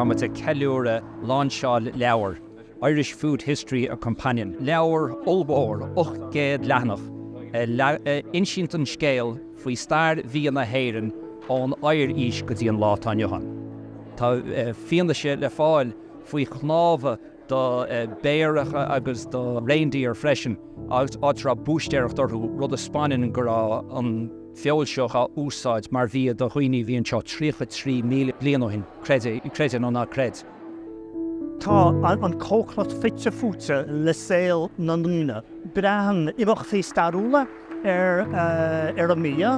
Táimid ag ceiliúradh lainseáil leabhar Irish Food History, A Companion, leabhar ollmhór 800 leathanach a insíonn an scéal faoi stair bhia na hÉireann ón Oighear-Aois go dtí an lá atá inniu ann. Tá fianaise le fáil faoi chnámha do bhéaracha agus do reindeer freisin, áit a raibh búistéireacht orthu, rud a 'spanann go raibh an feoil seo á úsáid mar bhia do dhaoine a bhí anseo 33,000 bliain ó shin, creideadh nó ná creid. Tá an cócaireacht fite fuaite le saol na ndaoine. Braitheann imeachtaí stairiúla ar an mbia,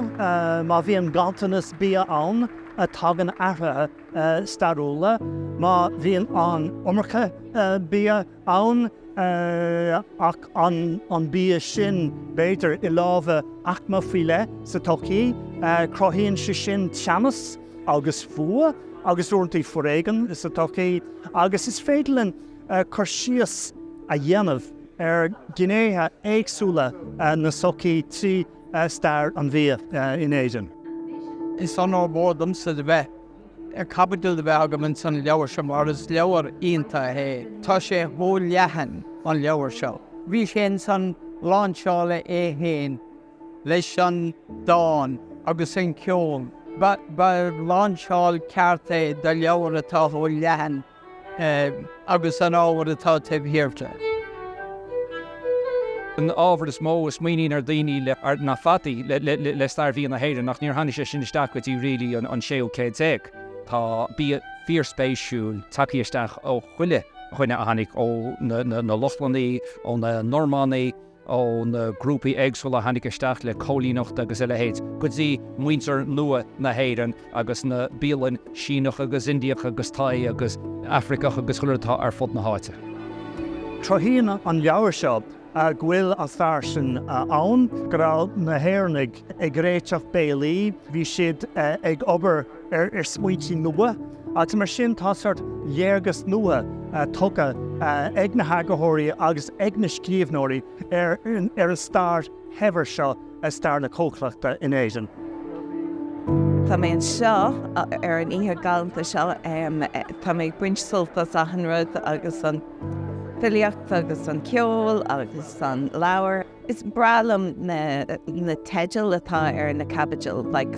má bhíonn ganntanas bia ann tagann athruithe. stairiúla, má bhíonn an iomarca bia ann, ach an bia sin b'fhéidir i lámha aicme faoi leith sa tsochaí, cruthaíonn sé sin teannas agus fuath agus uaireantaí foréigean sa tsochaí agus is féidir linn cur síos a dhéanamh ar ghnéithe éagsúla na sochaí trí stair an bhia in Éirinn. Is onóir mhór domsa a bheith caibidil a bheith agam ins an leabhar seo mar is leabhar iontach é. Tá sé chomh leathan, an leabhar seo. Bhí sé ins an láinseáil é fhéin leis an dán agus an ceol. Ba láinseáil ceart é do leabhar atá chomh leathan. agus an ábhar atá taobh thiar de. An ábhar is mó a smaoiníonn ar daoine le ar na fataí le stair bhia na hÉireann ach níor tháinig sé sin isteach go dtí really an séú céad déag. Tá bia fíorspéisiúil tagtha isteach ó chuile dhuine a tháinig ó na Lochlannaigh, ó na Normannaigh, ó na grúpaí éagsúla a tháinig isteach le coilíneacht agus a leithéid, go dtí muintir nua na hÉireann agus na bialainn Síneach agus Indiach agus Thai agus Afraiceach agus go leor atá ar fud na háite. Cruthaíonn an leabhar seo go bhfuil an stair sin ann go raibh na hÉireannaigh ag réiteach béilí, bhí siad ag obair ar smaointí nua agus mar sin tá sórt léargas nua tugtha ag na heagarthóirí agus ag na scríobhnóirí ar an stair shaibhir seo i stair na cócaireachta in Éirinn. Tá mé anseo ar an oíche galánta seo Tá mé ag baint sult as achan rud agus an filíocht agus an ceol agus an leabhar. Is breá liom na teidil atá ar na caibidil, like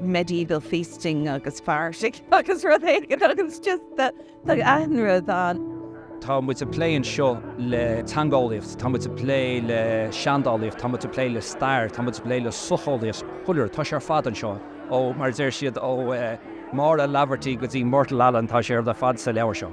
medieval feasting agus fairsing agus rud éigin agus just chuile rud ann. Tá muid ag plé anseo le teangeolaíocht, tá muid ag plé le seandálaíocht, tá muid ag plé le stair, tá muid ag plé le socheolaíocht, go léir, tá sé ar fad anseo. Ó, mar a deir siad, ó Maura Laverty go dtí Myrtle Allen, tá sé ar fad sa leabhar seo.